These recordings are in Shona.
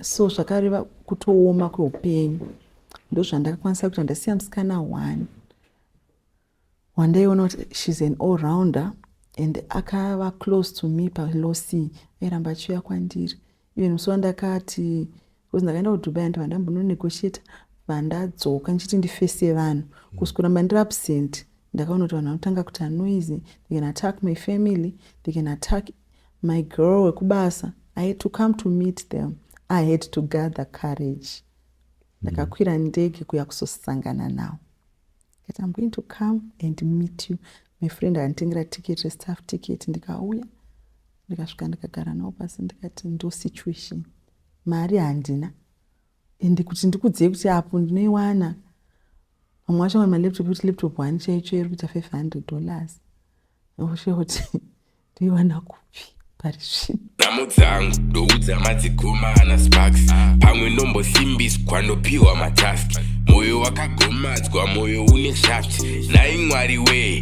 so zvakareva kutooma kweupenyu ndozvandakakwanisa kuita ndasiya musikana one wandaiona kuti shes an all rounder and akava close to me palosi airamba achiuya kwandiri even musi wandakati Because ndakaenda kuDubai ndibva ndambono negotiator vandadzoka ndichiti ndifese vanhu because mm. kuramba ndiri absent ndakaona kuti vanhu vanotanga kuti anoise they can attack my family they can attack my girl wekubasa i had to come to meet them i had to gather courage mm. ndakakwira ndege kuya kuzosangana nawo kat im going to come and meet you my friend akanditengera ticket restaff ticket ndikauya ndikasvika ndikagara nawo pasi ndikati ndo situation Mari handina and kuti ndikuudzei kuti apo ndinoiwana vamwe vacho vane malaptop ekuti laptop one chaicho iri kuita 500 dollars oshe kuti ndoiwana kupi pari zvino nhamo dzangu ndoudza madzigoma ana sparks pamwe ndombosimbiswa ndopiwa matask moyo wakagomadzwa moyo une shaft nhai mwari wee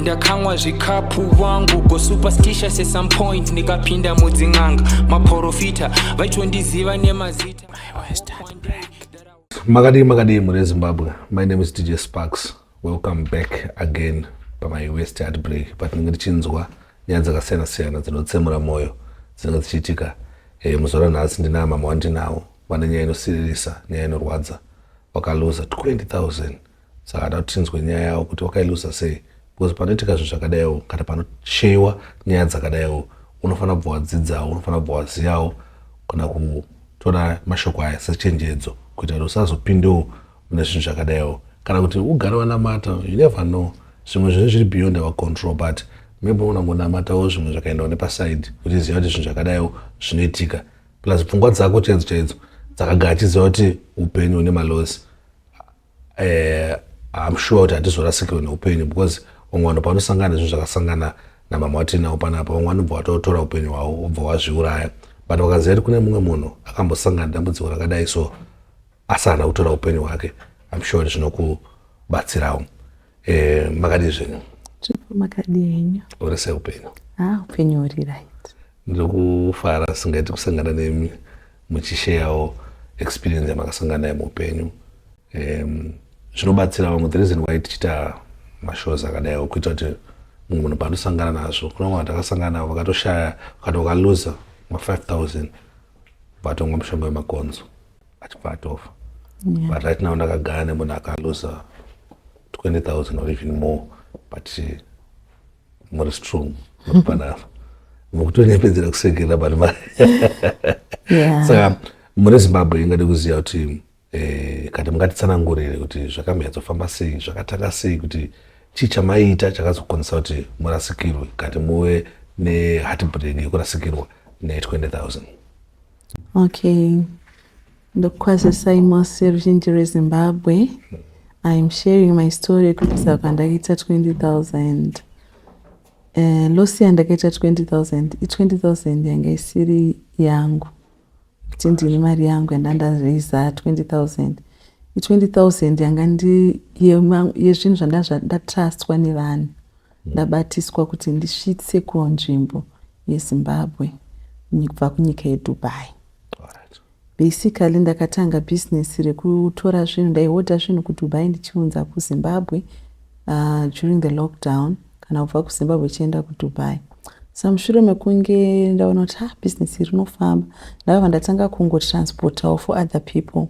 ndakamwa zvikapu wangu go superstitious at some point ndikapinda mudzin'anga maporofita vaitondiziva nemazita makadii makadii mune zimbabwe my name is dj sparks welcome back again pamai west heart break patinenge tichinzwa nyaya dzakasiyana siyana dzinotsemura mwoyo dzinenge dzichiitika e, muzuva ranhasi ndinaa mama wandinawo vane nyaya inosiririsa nyaya inorwadza wakaluza 20000 saka hada kuti tinzwe nyaya yawo kuti wakailuza sei because panoitika zvinhu zvakadaiwo kana panosheyiwa nyaya dzakadaiwo unofanira kubva wadzidzawo unofanira kubva waziyawo kana kutora mashoko aya sechenjedzo kuita kuti usazopindewo mune zvinhu zvakadaiwo kana kuti ugare wanamata you never know zvimwe zvinhu zviri beyond our control but maybe unongonamatawo zvimwe zvakaendawo nepasaidi uchiziva kuti zvinhu zvakadaiwo zvinoitika plus pfungwa dzako chaidzo chaidzo dzakagara achiziva kuti upenyu hune malosi eh, I'm sure kuti hatizorasikirwe neupenyu because vamwe vanhu panosangana nezvinhu zvakasangana namama watinavo panapa vamwe vanobva vatotora upenyu hwavo vobva vazviuraya but vakaziva kuti kune mumwe munhu akambosangana nedambudziko rakadai so asi haana kutora upenyu hwake I'm sure kuti zvinokubatsirawo Eh, makadii zvenyu? Chipo makadii henyu? Uri sei upenyu? Ah, upenyu huri right. Ndiri kufara singaiti kusangana nemi muchisheyawo experience yamakasangana nayo muupenyu. Um, zvinobatsira vamwe the reason why tichiita mashows akadaiwo kuita kuti mumwe munhu paandosangana nazvo kuna vamwe vatakasangana navo vakatoshaya vakati vakaluza ma-5000 vatonga mushonga wemakonzo achibva atofa yeah. but right now ndakagara nemunhu akaluza 20000 or even more but eh, muri strong muripanava mukutonepedzera kusekerera but ma saka mune zimbabwe ingade kuziva kuti eh, kati mungatitsanangurire kuti zvakamhanyatsofamba sei zvakatanga sei kuti chii chamaiita chakazokonzesa kuti murasikirwe kati muve nehatbreak yekurasikirwa ne 20000 Okay. Ndokukwazisai mose ruzhinji rweZimbabwe. I am sharing my story yekubvisa kwandakaita 20,000. Uh, loss yandakaita 20,000 i20,000 yanga isiri yangu kuti ndine mari yangu yanda ndazviza 20,000 i20,000 yanga ndi yezvinhu zvandatrustwa nevanhu Ndabatiswa kuti ndisvitse kunzvimbo yeZimbabwe kubva kunyika yeDubai. Basically ndakatanga business rekutora zvinhu ndaihodha zvinhu kuDubai ndichiunza kuZimbabwe uh, during the lockdown kana kubva kuZimbabwe chienda kuDubai sa mushure mekunge ndaona kuti ha ah, business iri rinofamba ndakabva ndatanga kungotransportawo for other people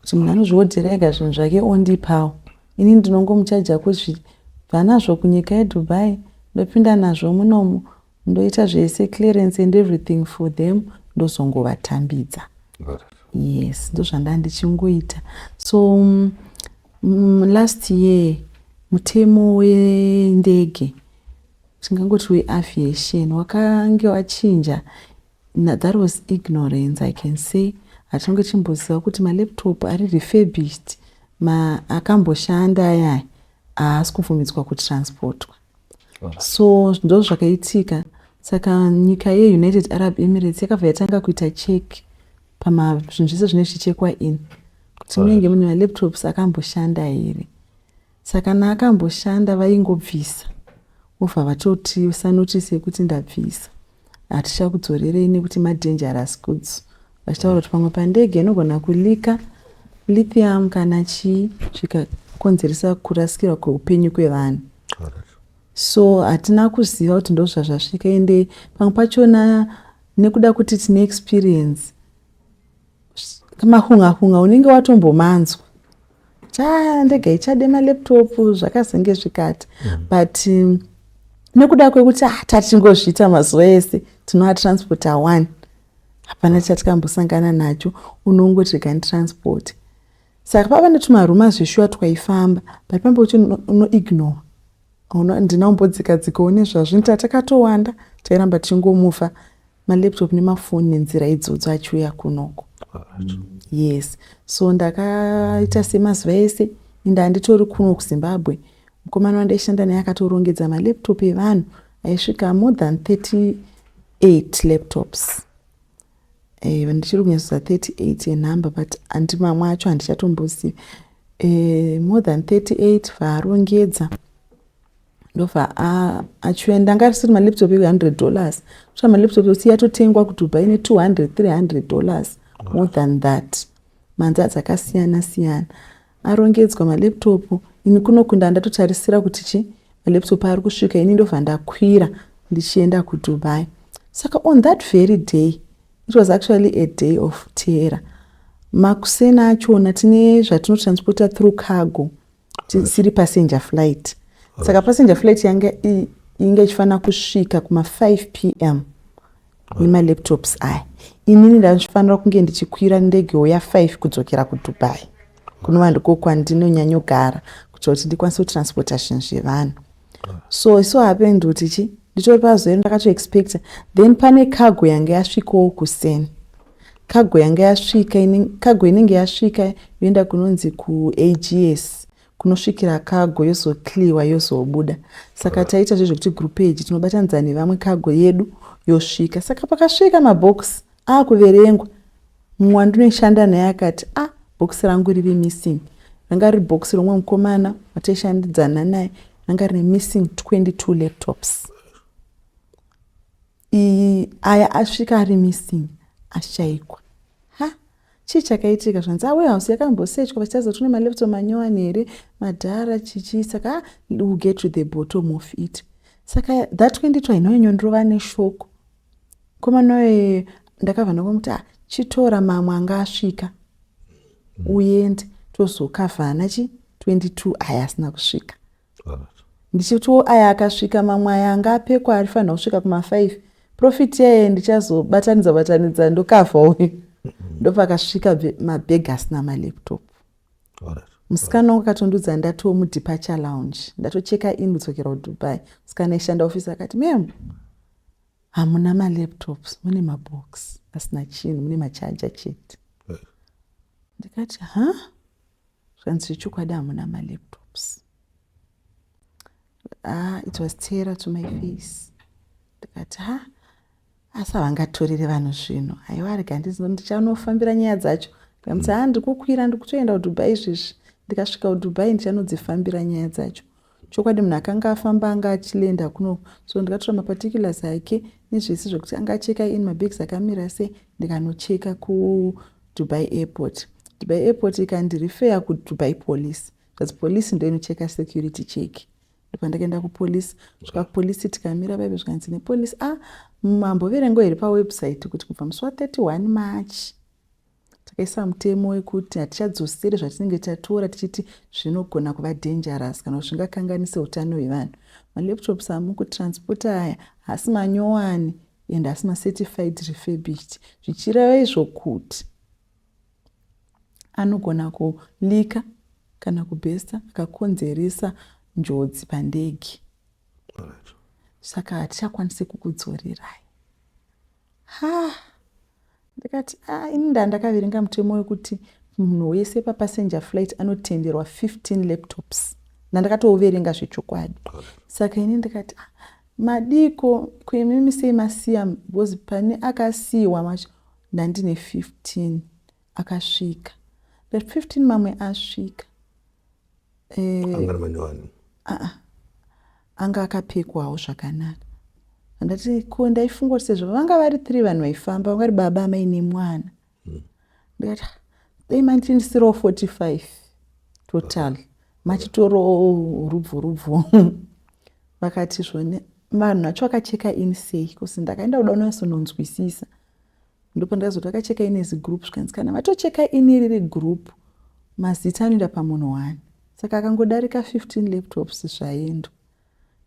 Kuti munhu anozviodhera ega zvinhu zvake ondipawo. Ini ndinongomuchaja kuzvibva nazvo kunyika yeDubai ndopinda nazvo munomu ndoita zvese clearance and everything for them ndozongovatambidza. Yes, ndozvandanga ndichingoita. So um, mm, last year mutemo wendege tingangoti weaviation wakange wachinja Na that was ignorance I can say hatinonge tichimboziva kuti ma laptop ari refurbished ma akamboshanda ayaya haasi kubvumidzwa kutransportwa so ndozvakaitika saka nyika ye United Arab Emirates yakabva yatanga kuita check pama zvinhu zvese zvine zvichichekwa ini kuti munenge mune ma laptops akamboshanda here Saka na akamboshanda vaingobvisa vobva vatotiisa notice yekuti ndabvisa hatichakudzorerei nekuti ma dangerous goods vachitaura kuti pamwe pandege inogona kulika lithium kana chii zvikakonzeresa kurasikirwa kweupenyu kwevanhu so hatina kuziva kuti ndozvazvasvika ende pamwe pachona nekuda kuti tine experience mahunga hunga unenge watombomanzwa cha ndega ichade malaptop zvakazenge zvikati mm. but um, nekuda kwekuti ah, tatingozviita mazuva ese tinoatransport awani hapana chatikambosangana nacho unongoti rega nditransport saka pava netumaruma zveshuwa twaifamba but pamba kuti unoignore ndina umbodzikadzikawo nezvazvo nita takatowanda tairamba tichingomufa malaptop nemafoni nenzira idzodzo achiuya kunoko yes so ndakaita semazuva ese ende handitori kuno kuzimbabwe mukomana wandaishanda naye akatorongedza malaptop evanhu aisvika more than 38 laptops eh, ndichiri kunyatsoza 38 enumber but andi mamwe acho handichatombozivi eh, more than 38 vaarongedza ndobva achienda anga asiri malaptop ehuhundred dollars sva malaptop ekuti yatotengwa kudubai ne2 hundred three hundred dollars more than that manza dzakasiyana siyana arongedzwa malaptop ini kunokunda andatotarisira kuti chi malaptop ari kusvika ini ndobva ndakwira ndichienda kudubai saka on that very day it was actually a day of terror makuseni achona tine zvatinotransporta through cargo tisiri passenger flight saka passenger flight yanga inge ichifanira kusvika kuma5 p m nemalaptops aya inini ndaifanira kunge ndichikwira ndege uya 5 kudzokera kudubai kunova ndiko kwandinonyanyogara kuitira kuti ndikwanise kutransportation zvevanhu so isu hapendi kuti chi nditori pazoenda ndakatoexpecta then pane cargo yange yasvikawo kuseni cargo yange yasvika cargo inenge yasvika yoenda kunonzi kuags kunosvikira cargo yozocleawa yozobuda saka taita zvezvekuti group age tinobatanidza nevamwe cargo yedu yosvika saka pakasvika mabox akuverengwa mumwe wandinoshanda naye akati a ah, bhokisi rangu riri missing ranga riri bhokisi romwe mukomana wataishandidzana naye ranga rine missing 22 laptops iyi aya asvika ari missing ashaikwa ha chii chakaitika zvanzi a warehouse yakambosechwa vachitaridza tune malaptop manyowani here madhara chichii saka ah, will get to the bottom of it saka that 22 hainonyonyorova neshoko Komana uye ndakabva ndamuti ah chitora mamwe anga asvika uende tozokavhana chi 22 aya asina kusvika ndichitiwo aya akasvika mamwe aya anga apekwa arifanira kusvika kuma 5 profit yaye ndichazobatanidza batanidza ndokavha uyu ndopakasvika mabhegi asina malaptop musikana wangu akatondiudza ndatiwo mudeparture lounge ndatocheka in kudzokera kudubai musikana aishanda office akati mem Hamuna ma laptops mune ma box asina chinhu mune ma charger chete. Ndikati ha zvanzi zvechokwadi hamuna ma laptops. Ah it was terror to my face. Ndikati ha asi havangatorere vanhu zvinhu haiwa rega ndichanofambira nyaya dzacho ndikamuti ha ndikukwira ndikutoenda kudubai izvezvi ndikasvika kudubai ndichanodzifambira nyaya dzacho Chokwadi munhu akanga afamba anga achilenda kuno so ndikatora maparticulars ake nezvese zvekuti anga acheka in mabags akamira sei ndikanocheka kuDubai airport. Dubai airport ikandirifeya kuDubai police zvanzi police ndoinocheka security check ndopandakaenda kupolice svika kupolice tikamira vaive zvikanzi nepolice a ah, mamboverengo here pawebsite kuti kubva musi wa 31 march Takaisa mutemo wekuti hatichadzoseri zvatinenge tatora tichiti zvinogona kuva dangerous kana kuti zvingakanganise utano hwevanhu. Malaptops amukutransporta aya haasi manyowani and haasi macertified refurbished zvichireva izvo kuti anogona kulika kana kubhesta akakonzeresa njodzi pandege saka hatichakwanisi kukudzorerai ha ndikati ah, ini ndandakaverenga mutemo wekuti munhu wese papassenger flight anotenderwa 15 laptops ndandakatouverenga zvechokwadi saka ini ndikati ah, madiko kuimimi sei masiya because pane akasiyiwa macho ndandine 15 akasvika but 15 mamwe asvika eh, ah, ah. Anga akapfekwawo zvakanaka. Handati ko ndaifunga kuti sezvo vanga vari three vanhu vaifamba vanga vari baba amai nemwana. Hmm. Ndikati ah, dai manditindisirawo 45 total machitoro rubvu rubvu. Vakati zvone vanhu vacho vakacheka ini sei kosi ndakaenda kuda unasononzwisisa. Ndopandakazoti vakacheka ini as group zvikanzi kana vatocheka ini riri group mazita anoenda pamunhu one saka akangodarika 15 laptops zvaendwa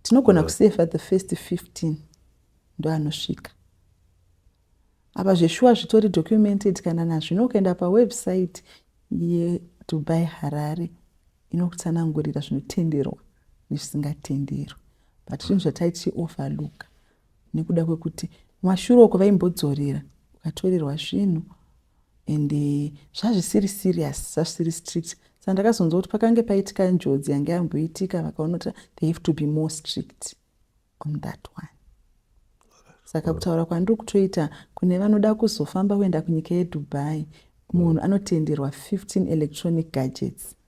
tinogona kusefa the first 15 ndoanosvika apa zveshuwa zvitori documented kana nazvino ukaenda pawebsite yedubai harare inokutsanangurira zvinotenderwa nezvisingatenderwa but zvinhu zvataichi overlooka nekuda kwekuti kumashure uko vaimbodzorera ukatorerwa svinhu and eh, zvazvisiri serious zvazvisiri strict saka ndakazonzwa kuti pakange paitika njodzi yange yamboitika vakaona kuti they have to be more strict on that one saka kutaura kwandiri kutoita kune vanoda kuzofamba kuenda kunyika yedubai munhu anotenderwa 15 electronic gadgets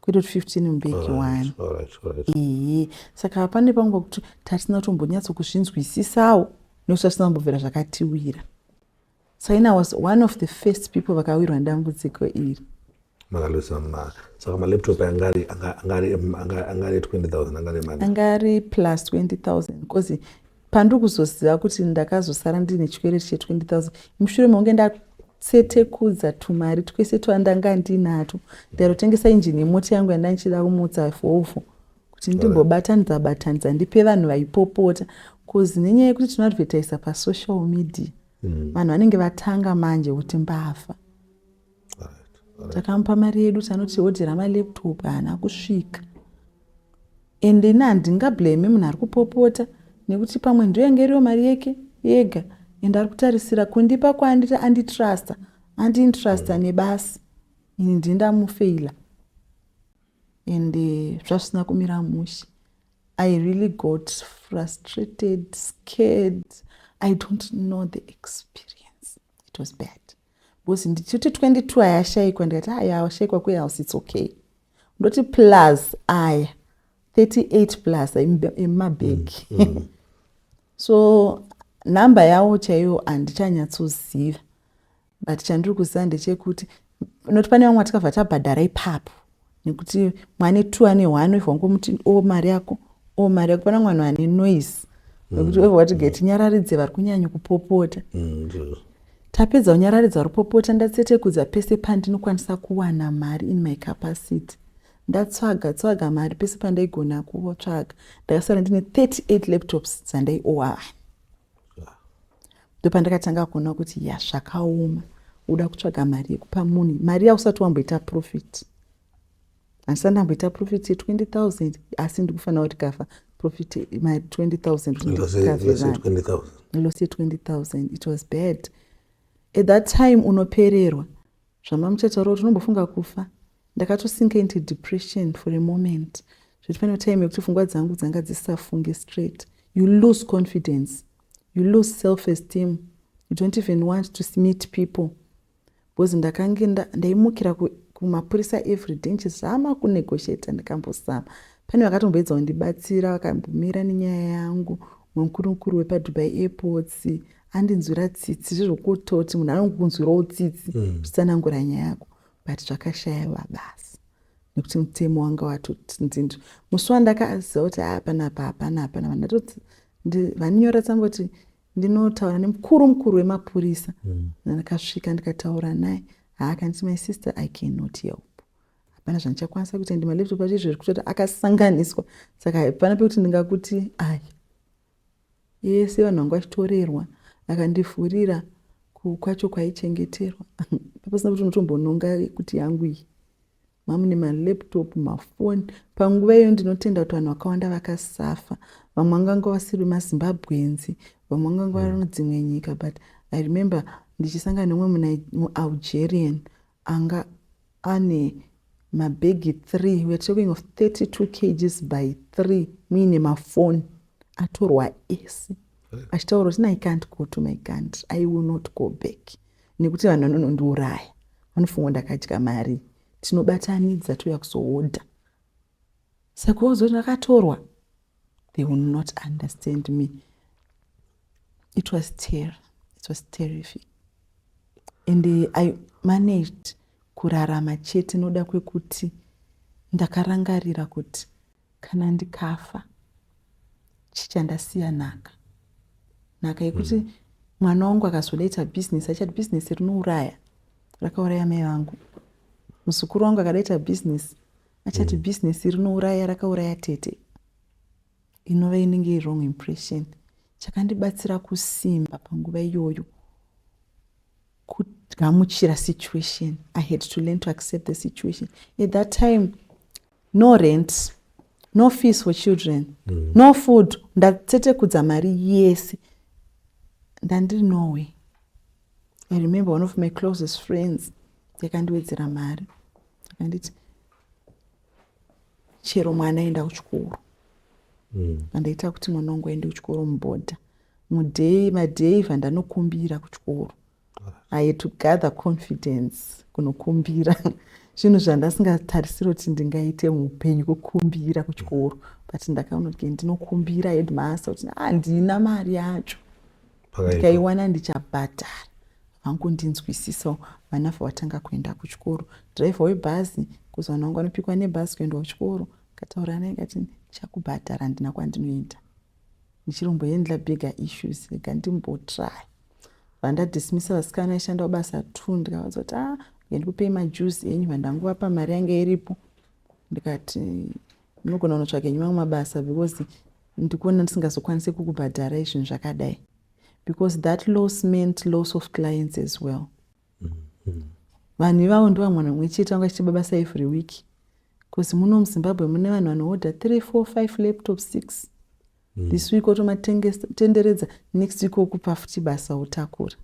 kwetoti 15 mbeki wani iyi saka pane panguva kuti tatisina kutombonyatso kuzvinzwisisawo nekuti tatisina kumbobvira zvakatiwira saina was one of the first people vakawirwa nedambudziko iri makalusa ma saka malaptop anga ari anga ari 20000 anga ari mari anga ari plus 20000 because Pandiri kuzoziva kuti ndakazosara ndine chikwereti che 20000 mushure mekunge ndatsetekudza tumari twese twandanga ndinatwo ndairotengesa injini yemota yangu yandandichida kumutsa fofo kuti ndimbobatanidza batanidza ndipe vanhu vaipopota bcause nenyaya yekuti tinoadvertisa pasocial media mm. vanhu vanenge vatanga manje kuti mbavha takamupa mari yedu tanoti odhera malaptop haana kusvika and ini handingablame munhu ari kupopota nekuti pamwe ndoyanga iriyo mari yeke yega and ari kutarisira kundipa kwaanditi anditrusta andiintrusta mm. nebasa ini ndii ndamufeila and eh, zvazvisina kumira mushe i really got frustrated scared i don't know the experience it was bad Because ndichiti 22 ayashaikwa ndikati aya awashaikwa kwe house it's okay. Ndoti plus aya 38 plus emabag. Mm, mm. so number yawo chaiyo handichanyatsoziva but chandiri kuziva ndechekuti noti pane vamwe vatikabva tabhadhara ipapo nekuti mwana two ane one weva wangomuti o mari yako o mari yako pana mwana ane noise nekuti weva wati geti nyararidze vari kunyanya kupopota mm, tapedza kunyararidza vari kupopota ndatsetekudza pese pandinokwanisa kuwana mari in my capacity ndatsvaga tsvaga mari pese pandaigona kutsvaga ndakasara ndine 38 laptops dzandaiowaa ndopandakatanga kuona kuti ya zvakaoma uda kutsvaga mari yekupa munhu mari yausati wamboita profit handisati ndamboita profit ye20000 asi ndikufanira kuti kafa profit mari 20000 loss ye20000 it was bad at that time unopererwa Zvamamuchataurawo tinombofunga kufa. Ndakatosinka into depression for a moment zvekuti pane time yekuti pfungwa dzangu dzanga dzisisafunge straight. You lose confidence, you lose self esteem, you don't even want to meet people because ndakange ndaimukira kumapurisa everyday ndichizama kunegotiata ndikambozama pane vakatomboedza kundibatsira vakambomira nenyaya yangu mukuru mukuru wepadubai airports andinzwira tsitsi zvezvokutoti munhu anokunzwirawo tsitsi mm. zvisanangura mm. nyaya yako but zvakashaiva basa nekuti mutemo wanga watotindinzvi musi wandakaziva kuti haa panapa hapana hapana vandatoti vaninyora tsamboti ndinotaura nemukuru mukuru wemapurisa mm. ndakasvika ndikataura naye haakanditi my sister i cannot help hapana zvandichakwanisa kuita ndi malaptop acho izvo zviri kutoti akasanganiswa saka hapana pekuti ndingakuti aya yese vanhu vanga vachitorerwa akandivhurira kwacho kwaichengeterwa papasina kuti unotombononga kuti yangu iyi mamune malaptop mafoni panguva iyo ndinotenda kuti vanhu vakawanda vakasafa vamwe vanganga vasiri mazimbabwenzi vamwe vanganga vari mudzimwe nyika but i remember ndichisangana nemumwe mualgerian anga ane mabhegi three we're talking of 32 kgs by three muine mafoni atorwa ese achitaura kuti i can't go to my country i will not go back nekuti vanhu vanonondiuraya vanofunga ndakadya mari tinobatanidza touya kuzohodha saka wozoti akatorwa they will not understand me it was terror it was terrify and uh, i managed kurarama chete noda kwekuti ndakarangarira kuti kana ndikafa chichandasiya nhaka nhaka yekuti mm. mwana wangu akazodaita bhizinesi achati bhizinesi rinouraya rakauraya mai vangu muzukuru wangu akadaita bhizinesi achati mm. business rinouraya rakauraya tete inova inenge irong impression chakandibatsira kusimba panguva iyoyo kugamuchira situation i had to learn to accept the situation at that time no rent no fees for children mm. no food ndatetekudza mari yese ndandiri norway i remember one of my closest friends yakandiwedzera mari akanditi chero mwana enda kuchikoro mm. andaita kuti mwana wangu aende kuchikoro mubhodha mudhei madhei vandanokumbira kuchikoro i to gather confidence kunokumbira zvinhu zvandasingatarisiri kuti ndingaite muupenyu kukumbira kuchikoro but ndakaona kuti ndinokumbira headmaster kuti handina ah, mari yacho ndikaiwana ndichabhadhara vangondinzwisisawo vana vavatanga kuenda kuchikoro driver webhazi kuzowana wangu anopikwa nebhazi kuendwa kuchikoro kataura naye kati ndichakubhadhara handina kwandinoenda ndichirombo handla bigger issues rega ndimbotry vandadismisa vasikana vaishandawo basa two ndikavaudza kuti ah ndikupei majuzi enyu vandanguvapa mari yange iripo ndikati Munogona kunotsvaga nyimwe mabasa because ndikuona ndisingazokwanise kukubhadharai zvinhu zvakadai because that loss meant loss of clients as well mm-hmm. vanhu ivavo ndovamwana mumwe chete vanga chichiba basa every week because muno muzimbabwe mune vanhu vanohodha three four five laptop six mm. this week otomatenderedza next week okupa futi basa otakura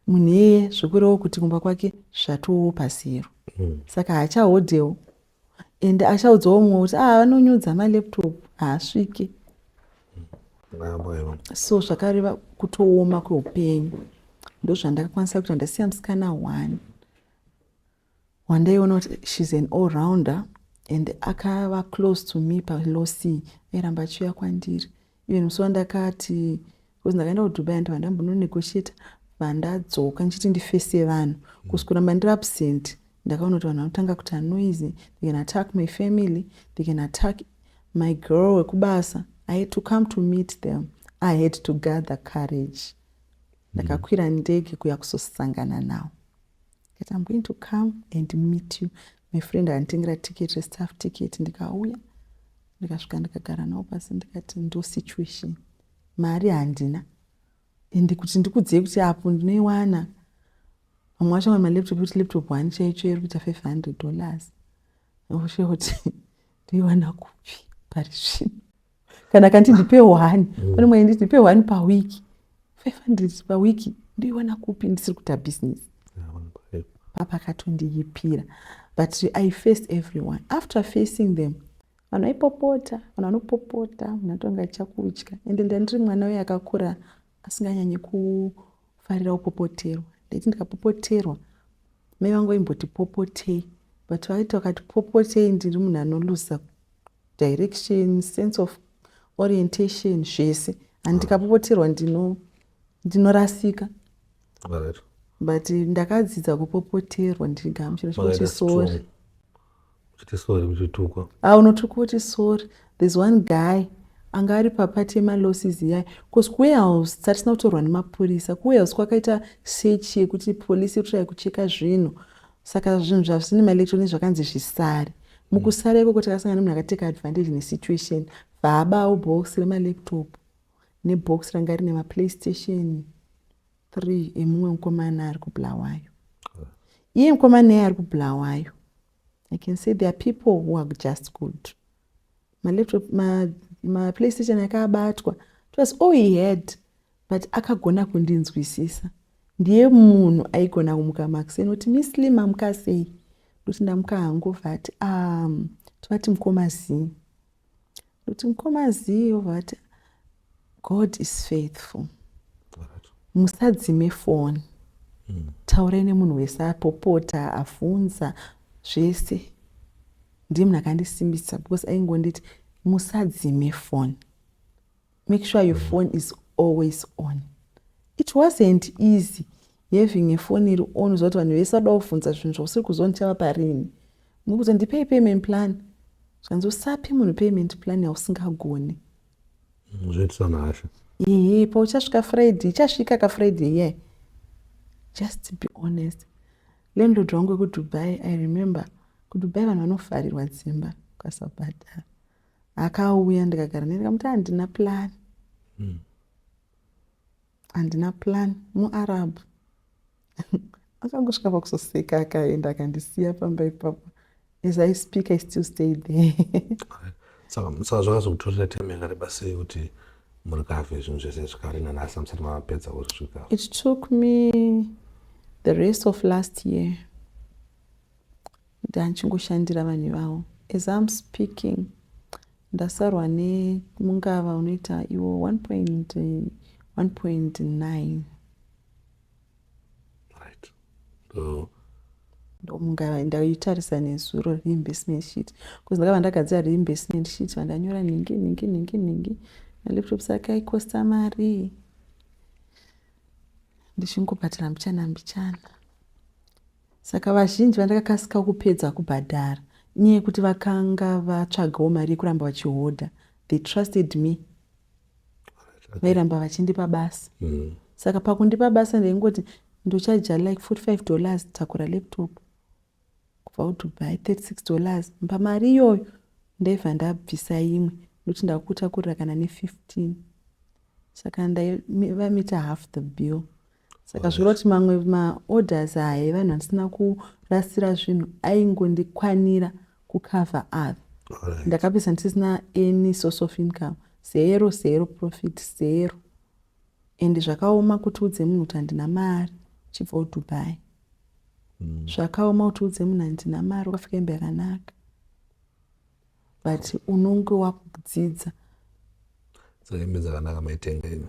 munhu iyeye zvekurewo kuti kumba kwake zvatoowo pasiyero mm. saka haachahodhewo and achaudzawo mumwe kuti ah vanonyudza malaptop haasvike so zvakareva kutooma kweupenyu ndozvandakakwanisa kuita ndasiya musikana one wandaiona kuti shes an all rounder and akava close to me palosi airamba achiuya kwandiri Even musi wandakati because ndakaenda kuDubai ndibva ndambono negotiator vandadzoka ndichiti ndifese vanhu because mm. kuramba ndiri absent ndakaona kuti vanhu vanotanga kuita noise they can attack my family they can attack my girl wekubasa i had to come to meet them i had to gather courage mm. ndakakwira ndege kuya kuzosangana nawo that i'm going to come and meet you my friend anditengera ticket restaff ticket ndikauya ndikasvika ndikagara navo pasi ndikati ndo situation mari handina ende kuti ndikudzei kuti apo ndinoiwana vamwe vacho vana malaptop kuti laptop one chaicho iri kuita five hundred dollars oshe kuti ndoiwana kupi pari zvino kana kanti ndipe one mm. pane mwainditi ndipe one pawiki 500 pawiki ndoiwana kupi ndisiri kuita business papa akatondiyipira but i face everyone after facing them vanhu vaipopota vanhu vanopopota munhu anotonga chakudya ende ndandiri mwana uye akakura asinganyanye kufarira kupopoterwa ndaiti ndikapopoterwa mai vangu vaimboti popotei but vaiti vakati popotei ndiri munhu anolusa direction sense of orientation zvese and ndikapopoterwa ndino ndinorasika Right. but ndakadzidza kupopoterwa ndigamuchira Makaita chekuti sori strong. Muchiti sorry muchitukwa. a unotuka kuti sorry there's one guy anga ari papati yemalosses yayi bcause kuwarehouse tatisina kutorwa nemapurisa kuwarehouse kwakaita search yekuti polisi iri kutsvaya kucheka zvinhu Saka zvinhu zvasvine maelectronic zvakanzi zvisare. Mukusara ikoko takasangana nemunhu akateka advantage nesituation vaabawo box remalaptop nebox ranga rine maplaystation three emumwe mukomana ari kubulawayo. Iye mukomana iye ari kubulawayo. I can say there are people who are just good. Malaptop, ma, maplaystation akabatwa. It was all he had. but akagona kundinzwisisa ndiye munhu aigona kumuka makuseni kuti misli mamuka sei ndokuti ndamuka hangu vati um, tovati mukoma zii ndokuti mukoma zii ovati god is faithful musadzime foni mm. taurai nemunhu wese apopota afunza zvese ndiye munhu akandisimbisa because aingonditi musadzime foni Make sure your phone is always on. It wasn't easy having a phone iri on uziva kuti vanhu vese vada kuvhunza zvinhu zvausiri kuziva ndichava parini. Mukuti ndipei payment plan. Zvanzi usape munhu payment plan yausingagoni. Mm, zvoitisa nhasha. Ehe, pauchasvika Friday, ichasvika ka Friday yeah. Just be honest. Landlord wangu wekuDubai, I remember kuDubai vanhu vanofarirwa dzimba ukasabhadhara. akauya ndikagara naye ndikamuti handina plan hmm. handina plan muarab akangosvika pakusoseka akaenda akandisiya pamba ipapo as i speak i still stay there saka saka zvakazokutorera time yakareba sei kuti muri kave zvinhu zvese zvikari nanasi amusati mapedza kurisvika it took me the rest of last year Ndachingoshandira vanhu ivavo as I'm speaking ndasarwa ne mungava unoita iwo 1.1.9 right so ndomungava ndaitarisa nezuro reinvestment sheet bcause ndakava ndagadzira reinvestment sheet vandanyora nhingi nhingi nhingi nhingi malaptop sake aikosta mari ndichingobhatira mbichana mbichana Saka vazhinji vandakakasikawo kupedza kubhadhara inyaya yekuti vakanga vatsvagawo mari yekuramba vachihodha. They trusted me. Vairamba vachindipa basa. Mm. Saka pakundipa basa ndaingoti ndochaja like 45 dollars takura laptop kubva kudubai 36 dollars mba mari iyoyo ndaibva ndabvisa imwe nokuti ndakutakurira kana ne15 saka ndaivamita half the bill saka zvoroti mamwe maorders aya evanhu andisina kurasira zvinhu aingondikwanira kucover ave right. ndakapedza ndisisina any source of income zero zero profit zero and zvakaoma kuti udze munhu kuti handina mari chibva udubai mm. zvakaoma kuti udze munhu handina mari ukafika imba yakanaka but unonge wakudzidza so hembe dzakanaka maitenga ino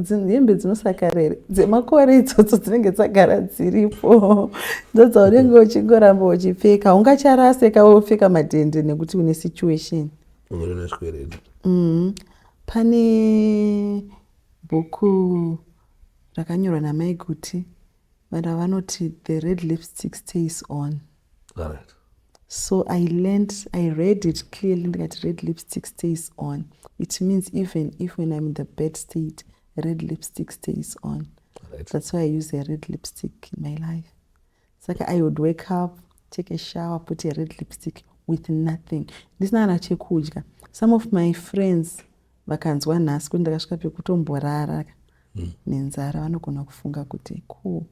hembe dzinosakara here dzemakore idzodzo dzinenge dzagara dziripo ndodzaunenge uchingoramba uchipfeka ungacharaseka wopfeka madhende nekuti une situation mm-hmm. pane bhuku rakanyorwa namai kuti vana vanoti the red lipstick stays on Alright. So I learned, I read it clearly ndikati red lipstick stays on. It means even if when I'm in the bad state, red lipstick stays on. Right. That's why I use a red lipstick in my life. It's like I would wake up, take a shower, put a red lipstick with nothing. This nana chekudya. Some of my friends vakanzwa nhasi kuti ndakasvika pekutomborara hmm. nenzara vanogona kufunga kuti cool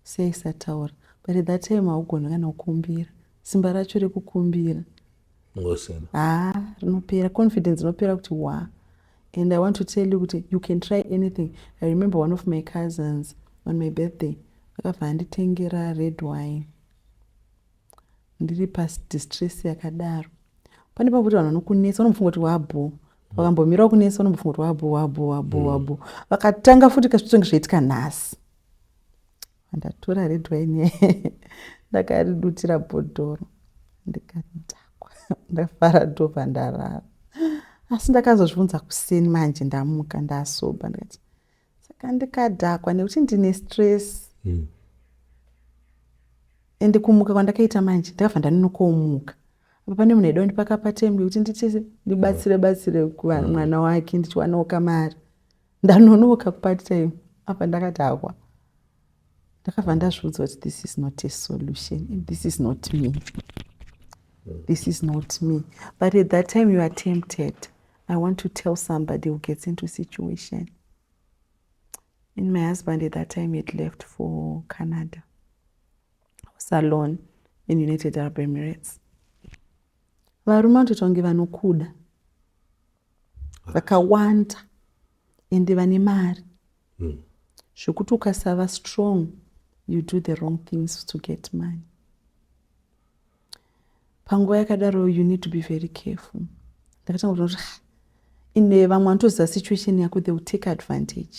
Sei usataura. But that time haugoni kana kukumbira. Simba racho rekukumbira. Ngosina. Haa rinopera. Confidence inopera kuti waa. And I want to tell you kuti you can try anything. I remember one of my cousins on my birthday. Akabva anditengera red wine. Ndiri pasi distress yakadaro. Pane pakuti vanhu vanokunetsa vanofunga kuti wabhoo vakambomirawo kunesa unombofunga kuti wabo wabo wabo wabo vakatanga futi kasvitsonge zvaitika nhasi ndatora red wine ndakaridutira bhodhoro ndikadhakwa ndafara ndobva ndarara asi ndakazozvibvunza kuseni manje ndamuka ndasoba ndikati saka ndikadhakwa nekuti ndine stress mm. ende kumuka kwandakaita manje ndakabva ndanonokomuka apa pane munhu aida kundipaka patembi kuti nditise ndibatsire batsire kuvanhu mm. mwana wake ndichiwanawo kamari ndanonoka kupart time apa ndakadhakwa ndakabva ndazviudza kuti this is not a solution and this is not me this is not me but at that time you are tempted i want to tell somebody who gets into situation and my husband at that time had left for canada i was alone in united arab emirates varume vanotoita kunge vanokuda vakawanda ende vane mari mm. zvekuti ukasava strong you do the wrong things to get money panguva yakadaro you need to be very careful ndakatanga kuti ine vamwe vanotoziva situation yako they will take advantage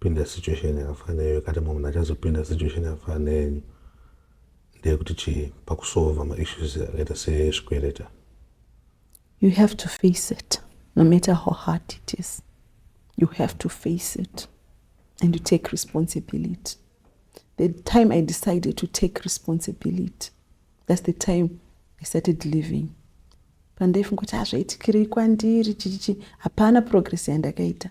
pinda situation yakafana neyoyo kati mumwe munhu achazopinda situation yakafana neyenyu ndeyekuti chii pakusolva maissues akaita sezvikwereta you have to face it no matter how hard it is you have to face it and you take responsibility the time i decided to take responsibility that's the time i started living pandaifunga kuti hazvaitikirei ah, kwandiri chichichi hapana progress yandakaita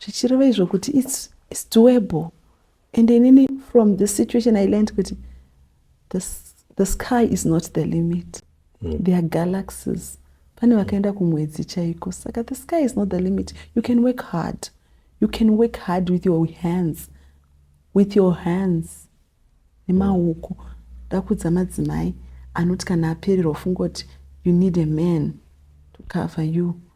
zvichireva izvo kuti its, its doable and inini from this situation i learned kuti the, the sky is not the limit mm. there are galaxies pane vakaenda kumwedzi chaiko saka the sky is not the limit you can work hard you can work hard with your hands with your hands nemaoko ndakudza madzimai anoti kana apererwa fungoti you need a man to cover you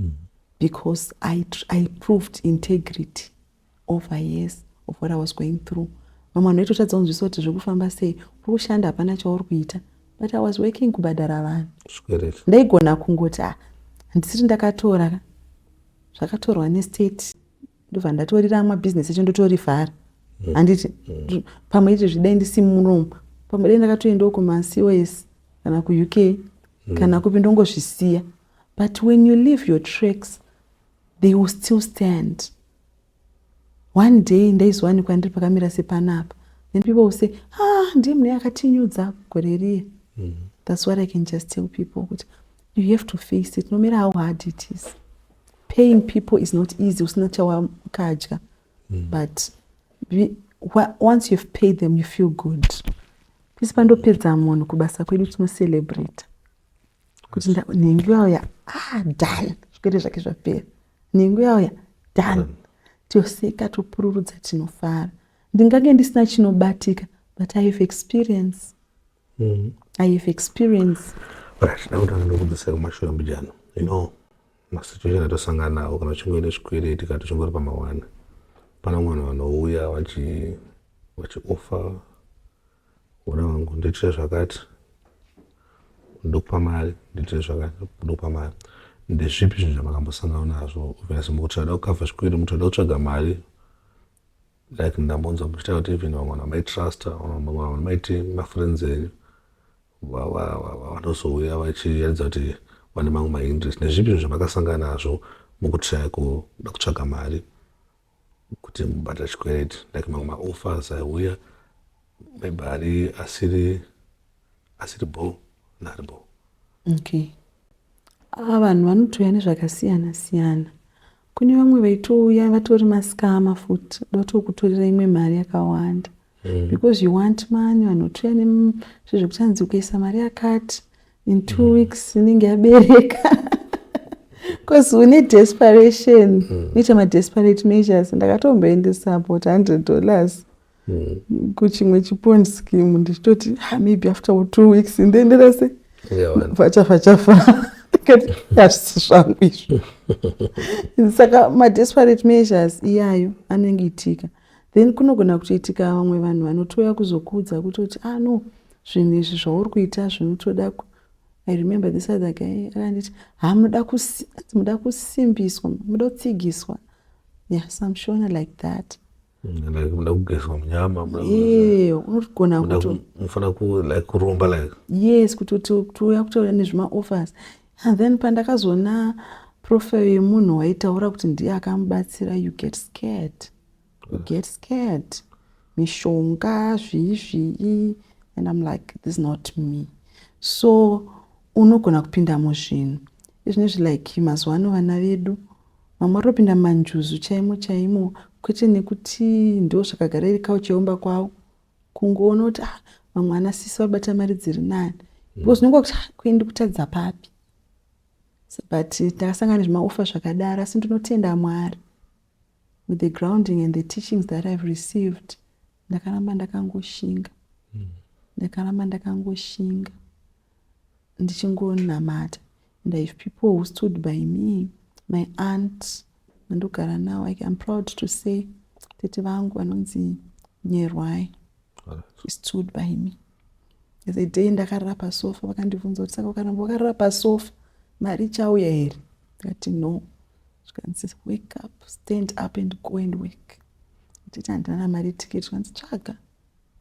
mm. because I, I proved integrity over years of what I was going through vamwe vanhu vaitotadza kunzwisa kuti zviri kufamba sei uri kushanda hapana chauri kuita but I was working kubhadhara vanhu ndaigona kungoti ah, handisiri ndakatora zvakatorwa nestate ndobva ndatorira amwe business echo ndotorivhara mm. handiti mm. pamwe iti zvidai ndisi muromo pamwe dai ndakatoendawo kumacos kana kuuk mm. kana kupi ndongozvisiya but when you leave your tracks they will still stand one day ndaizowanikwa ndiri pakamira sepanapa then people will say ah ndiye mune akatinyudza gore riye mm. that's what i can just tell people kuti you have to face it no matter how hard it is Paying people is not easy usina chawakadya mm. but be, once you've paid them you feel good pisi pandopedza munhu kubasa kwedu tinocelebrate kuti nhengu yauya ah done zvikwete zvake zvapera nhengu yauya done mm. toseka topururudza tinofara ndingange ndisina chinobatika but i have experience Mm. I have experience. Right, ndakuda ndokudzisa kumashure mbijana. You know, masituation atosangana nawo kana uchingoenda zvikwereti kana tichingori pamawana. Pana mwana vanouya vachi vachiofa vona vangu ndoitire zvakati ndokupa mari ndoitire zvakati ndokupa mari ndezvipi zvinhu zvamakambosangana nazvo obviously mukuti ada kukavha zvikwere muti ada kutsvaga mari like ndambonzwa muchitaura kuti even vamwe vanhu vamaitrusta vamwe vanhu vamaiti mafriends enyu vanozouya vachiratidza kuti vane mamwe mainterest nezvipi zvinhu zvamakasangana nazvo mukutraya kuda kutsvaga mari kuti mubata chikwereti like mamwe maoffers aiuya maybe ari asiri asiri bo naari bo okay Ah, vanhu vanotouya nezvakasiyana siyana kune vamwe vaitouya vatori maskama futi vatokutorera imwe mari yakawanda mm. because you want money vanhu votouya nezve zvekutanzi ukaisa mari yakati in two mm. weeks inenge yabereka because une desperation mm. unoita madesperate measures ndakatomboendesa about hundred dollars mm. kuchimwe chipond scheme ndichitoti ah, maybe after two weeks ndoendera se vachafa chafa hazvisi zvangu izvo saka madesperate measures iyayo anenge itika then kunogona kutoitika vamwe vanhu vanotouya kuzokuudza kutoti ah no zvinhu izvi zvauri kuita zvinotoda i remember this other guy akanditi ha muda kusimbiswa muda kutsigiswa yeah some shona like that muda kugezwa munyama unogona kutofanira ku like kuromba like yes kuti tiuya kutouya nezvimaoffers and then pandakazoona profile yemunhu waitaura kuti ndiye akamubatsira you get scared you get scared mishonga zvii zvii and im like this not me so unogona kupinda muzvinhu izvinezvi like mazuva ano vana vedu Vamwe vari kupinda manjuzu chaimo chaimo kwete nekuti ndo zvakagara iri kauchi yeumba kwavo kungoona kuti ah, vamwe ana sisi vabata mari dziri nani because unenge wakuti ah, kuendi kutadza papi but takasangana nezvimaufa zvakadaro asi ndinotenda mwari with the grounding and the teachings that i've received ndakaramba ndakangoshinga hmm. ndakaramba ndakangoshinga ndichingonamata And I have people who stood by me, my aunt vandogara navo. I am proud to say tete vangu vanonzi Nyerwai. She stood by me. As a day ndakarara pasofa vakandibvunza kuti saka ukaramba wakarara pasofa mari ichauya here? Ndikati no. Zvikanzi wake up, stand up and go and work. Nditi handina mari ticket zvikanzi tsvaga.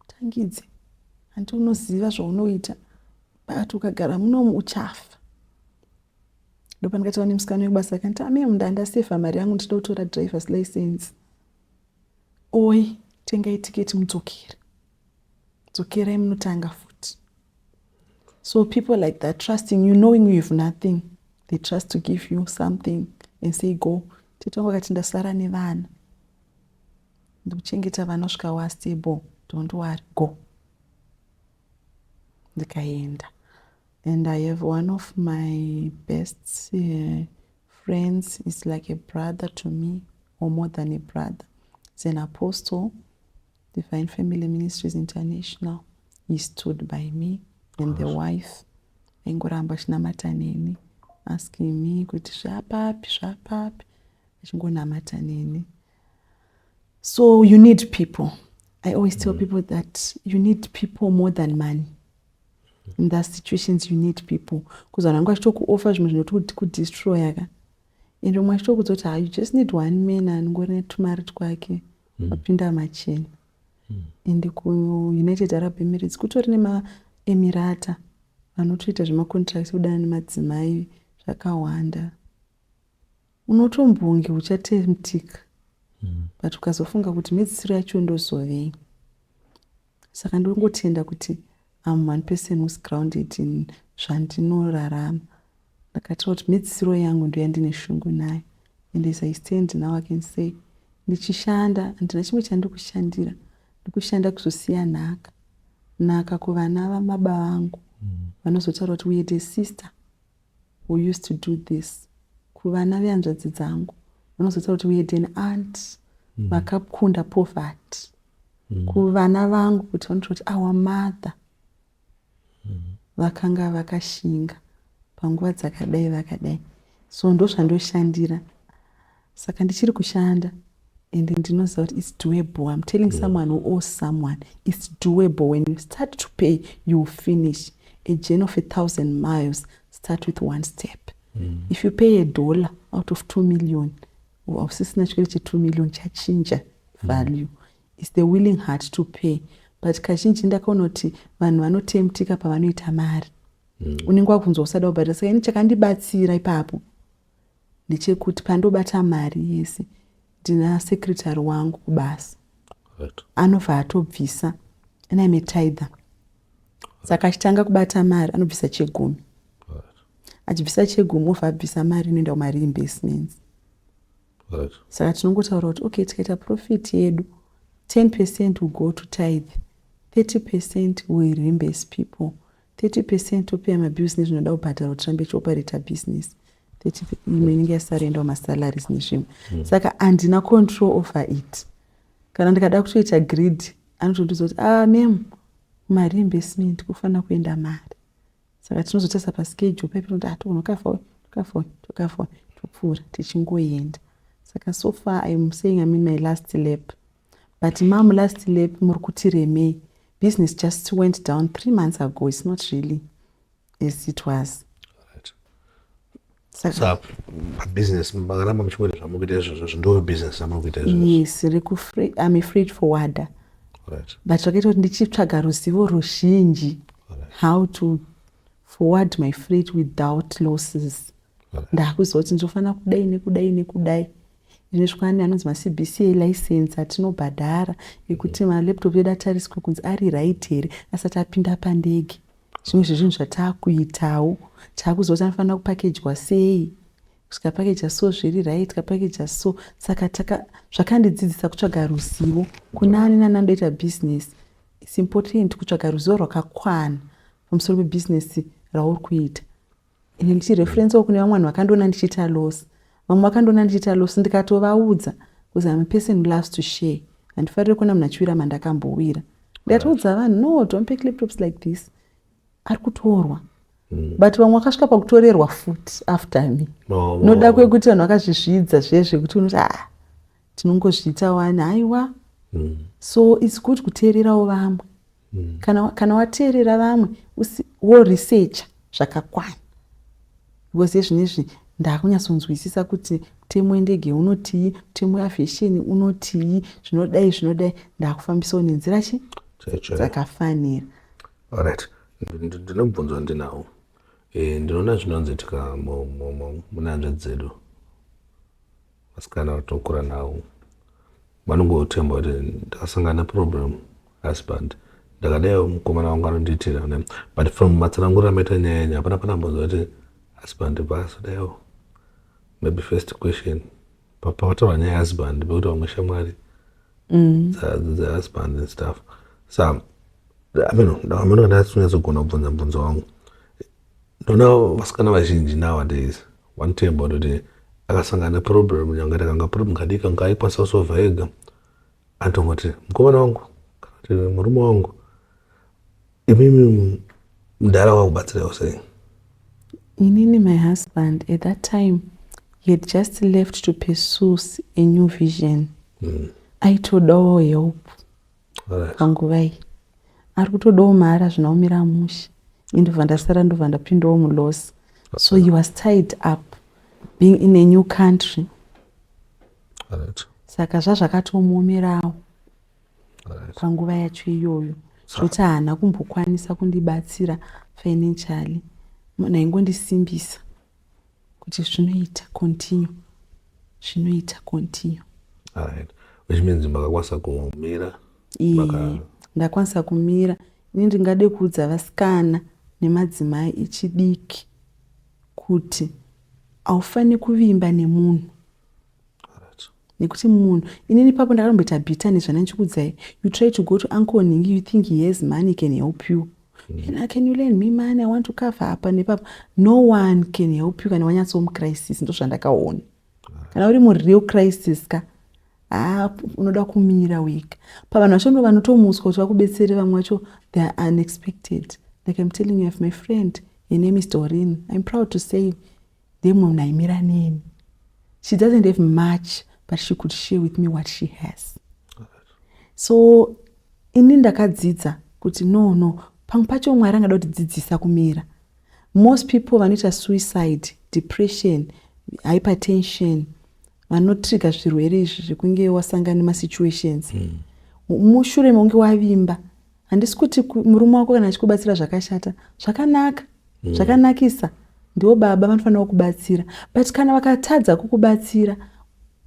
Tangidze, hanti unoziva zvaunoita but ukagara munomu uchafa. Ndopandikataura nemusikana wekubasa akanti amemu ndandaseva mari yangu ndichida kutora drivers license. Oi, tengai tiketi mudzokere. Dzokerai munotanga futi. So people like that trusting you knowing you have nothing. They trust to give you something and say go. Tete wangu akati ndasara nevana. Ndikuchengeta vana kusvika wastable don't worry go ndikaenda and i have one of my best uh, friends is like a brother to me or more than a brother is an apostle divine family ministries international he stood by me and the wife aingoramba achinamata neni asking me kuti zvapapi zvapapi achingonamata neni so you need people i always tell mm. people that you need people more than money in that situations you need people bcause vanhu vangu vachitokuoffa zvimwe zvinoti kudestroya ka and umwe achitokudza kuti ha you just need one man anongori netumari twake mm. wapinda mm. machena mm. and kuunited arab emirates kutori nemaemirata vanotoita zvemacontracts kudana nemadzimai zvakawanda unotombonge uchatemptika mm. but ukazofunga kuti mhedzisiro yacho ndozovei saka ndongotenda kuti am one person whos grounded in zvandinorarama ndakatira kuti mhedzisiro yangu ndoyandine shungu nayo and as i stand now i can say ndichishanda handina chimwe chandikushandira ndikushanda kuzosiya nhaka nhaka kuvana vamaba vangu mm. vanozotaura kuti uye the sister who used to do this kuvana vehanzvadzi dzangu vanozotaura kuti we had an aunt mm. vakakunda mm. poverty mm. kuvana vangu kuti vanotaura kuti our mother mm. vakanga vakashinga panguva dzakadai vakadai so ndozvandoshandira saka ndichiri kushanda and ndinoziva kuti its doable im telling yeah. someone who owes someone its doable when you start to pay you will finish a journey of a thousand miles start with one step mm. if you pay a dollar out of two million hausisina chikole chetu million chachinja mm. value mm. is the willing heart to pay but kazhinji ndakaona kuti vanhu vanotemtika pavanoita mari mm. unenge wakunzwa usada kubhadhara saka ini chakandibatsira ipapo ndechekuti pandobata mari yese ndina secretary wangu kubasa right. anobva atobvisa and ime tither saka achitanga kubata mari anobvisa chegumi achibvisa chegumi obva abvisa mari inoenda kumari investments right. saka tinongotaura kuti okay tikaita profit yedu 10 percent will go to tithe 30 percent will reinvest people 30 percent topeya mabills nezvinoda kubhadharwa tirambe tichioperata business 30 imwe inenge yasara endawo masalaries nezvimwe mm. saka handina control over it kana ndikada kutoita greed anotondiudza kuti ah mem mari yeinvestment kufanira kuenda mari saka tinozotarisa paschedule paipi noti atogona ah, kukafoni tokafoni tokafoni topfuura tichingoenda saka so far iam saying imean my last lap But mom last lap muri kuti remei business just went down three months ago it's not really as it was business makaramba muchikuita zvamuri kuita izvozvo zvindori business zvamuri kuita izvozvo yes am a freight forwarder right. but zvakaita kuti ndichitsvaga ruzivo ruzhinji right. how to forward my freight without losses right. ndakuziva kuti ndinofanira kudai nekudai nekudai Ine zvikwani anonzi maCBCA license atinobhadhara ekuti malaptop edu atariswe kunzi ari right here asati apinda pandege. Zvimwe zvezvinhu zvataakuitawo taakuziva kuti anofanira kupakejwa sei zvikapakeja so zviri right kapakeja so saka taka zvakandidzidzisa kutsvaga ruzivo kunani nani andoita business its important kutsvaga ruzivo rwakakwana pamusoro pebusiness rauri kuita ini ndichireferencewo kune vamwe vanhu vakandiona ndichiita loss vamwe vakandiona ndichiita loss ndikatovaudza bcause im a person who loves to share handifarire kuona munhu achiwira mandakambowira ndikatoudza vanhu no don't pick laptops like this ari kutorwa mm. but vamwe vakasvika pakutorerwa futi after me noda kwekuti vanhu vakazvizvidza zviye zvekuti unoti a ah, tinongozviita wani haiwa mm. so its good kuteererawo vamwe mm. kana, kana wateerera vamwe woresecha zvakakwana because ezvino izvi ndakunyatsonzwisisa kuti mutemo wendege unotii mutemo weavhesheni unotii zvinodai zvinodai ndakufambisawo nenzira chi dzakafanira orit ndinobvunzwa ndinawo eh, ndinoona zvinonzi tika munahanzvadzi dzedu vasikana vatinokura navo vanongotemba kuti ndakasangana neproblem husband ndakadaiwo mukomana wangu anondiitira but from matsananguriro amaita nyaya yenyu hapana panambonzwa kuti husband vaasodaiwo maybe first question papataura nyaya yehusband pekuti vamwe shamwari mm. dzehusband and stuff sa ameno ndakamanika ndasonyatso kugona kubvunza mubvunzo wangu ndona vasikana vazhinji nowadays One time vanoti akasangana neproblem nyangati akanga problem kadiki anga aikwanisa kusova ega anotongoti mukomana wangu kana kuti murume wangu imimi mudhara wakubatsiraiwo sei inini my husband at that time he had just left to pursue a new vision mm. aitodawo help panguva iyi ari kutodawo mahara zvinaomira amushe indobva ndasara ndobva ndapindawo muloss so he was tied up being in a new country right. saka zvazvakatomuomerawo right. panguva yacho iyoyo zvoti haana kumbokwanisa kundibatsira financially naingondisimbisa kuti zvinoita continue zvinoita continue right which means makakwanisa kumira Maka... ndakwanisa kumira ini ndingade kuudza vasikana nemadzimai echidiki kuti haufaniri kuvimba nemunhu nekuti munhu inini papo ndakatomboita bita nezvana ndichikudzai you try to go to uncle nhingi you think he has money can help you and i can you lend me money i want to cover apa nepapa no one can help you kana wanyatso mucrisis ndozvandakaona kana uri mureal crisis ka haa unoda kumira wega pavanhu vacho ndo vanotomuswa kuti vakubetsere vamwe vacho they are unexpected like im telling you have my friend her name is dorin im proud to say Dai mumwe munhu aimira neni. She doesn't have much but she could share with me what she has. So ini ndakadzidza kuti no no pamwe pacho Mwari angada kutidzidzisa kumira. Most people vanoita suicide, depression, hypertension vanotriga zvirwere izvi zvekunge wasangana nemasituations. Mm. Mushure mekunge wavimba handisi kuti murume wako kana achikubatsira zvakashata zvakanaka mm. zvakanakisa ndiwo baba vanofanira kukubatsira but kana vakatadza kukubatsira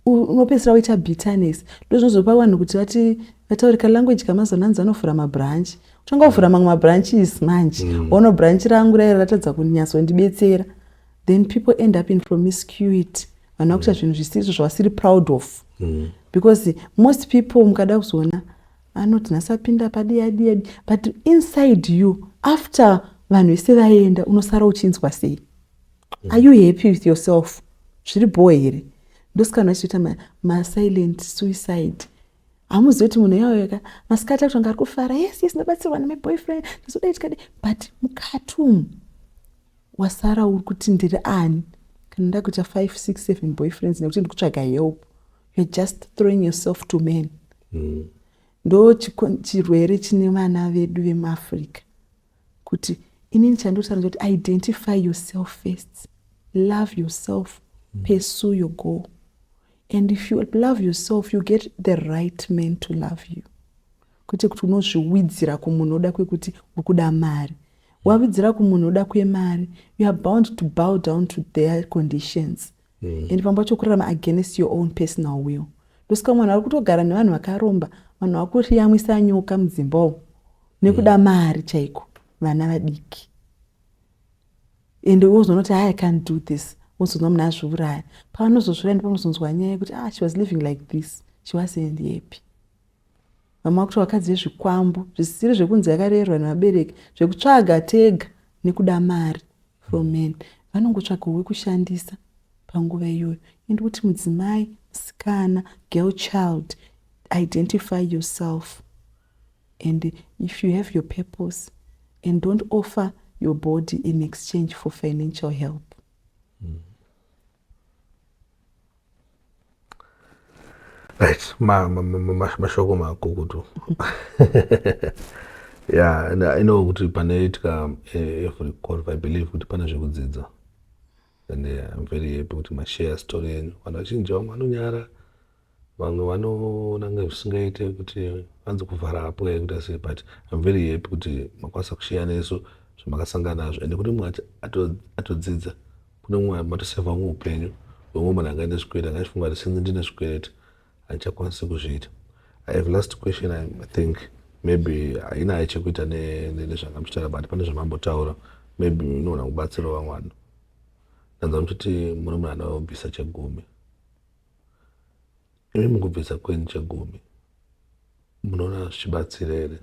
unopedzisira woita bitterness ndo zvinozopa vanhu kuti vati vataurika language kamazona anzi vanovhura mabranch uchanga wavhura mamwe mabranches manje mm. ono mm. branch rangu raira ratadza kunyatsondibetsera then people end up in promiscuity vanhu vakuita mm. zvinhu zvisizvo zvavasiri proud of mm. because most people mukada kuzoona Anoti nhasi apinda padiyadiya but inside you after vanhu vese vaenda unosara uchinzwa sei? Mm. Are you happy with yourself? Zviri bhowa here? Ndosika vanhu vachitoita ma, ma silent suicide hamuzivi kuti munhu yauyaka masikati akuti anga ari kufara yes yes ndabatsirwa neme boyfriend ndazoda itikadi but mukati umu wasara uri kuti ndiri ani kana ndakuita five six seven boyfriends nekuti ndikutsvaga help you're just throwing yourself to men mm. ndo chirwere chine vana vedu vemuafrica kuti inini chandotanda kuti identify yourself first love yourself mm. pursue your goal and if you love yourself you get the right man to love you kwete kuti unozviwidzira kumunhu oda kwekuti uri kuda mari wavidzira kumunhu oda kwemari you are bound to bow down to their conditions mm. and pamba pacho kurarama against your own personal will ndosika vanhu vari kutogara nevanhu vakaromba vanhu vakuriyamwisa nyoka mudzimba umu nekuda mm. mari chaiko vana vadiki ende wozonoti i can't do this wozonwa muna azviuraya pavanozozviraya ndipanozonzwa nyaya yekuti ah she was living like this she wasn't happy Vamwe vakuti vakadzi vezvikwambo zvisiri zvekunzi yakarerwa nevabereki zvekutsvaga tega nekuda mari from men vanongotsvaga wekushandisa panguva iyoyo and kuti mudzimai musikana girl child identify yourself and if you have your purpose and don't offer your body in exchange for financial help mm. right mashoko makukutu ya and i know kuti panoitika eh, every golf i believe kuti pane zvekudzidza and eh, im very happy kuti mashare story yenyu vanhu vachinja vamwe vanonyara Vamwe vanoona kunge zvisingaite kuti vanzi kuvhara apo yaita sei but I'm very happy kuti makwanisa kusheya nesu zvamakasangana nazvo and kune mumwe atodzidza kune mumwe matoseva umwe upenyu wemwe munhu anga ine zvikwereti anga achifunga kuti sinzi ndine zvikwereti handichakwanisi kuzviita i have last question i think maybe haina hai chekuita nezvanga muchitaura but pane zvamambotaura maybe inoona kubatsirawo vamwe vanhu ndanza muchiti muri munhu anobvisa chegumi Imi mukubvisa kwenyu chegumi munoona zvichibatsira here?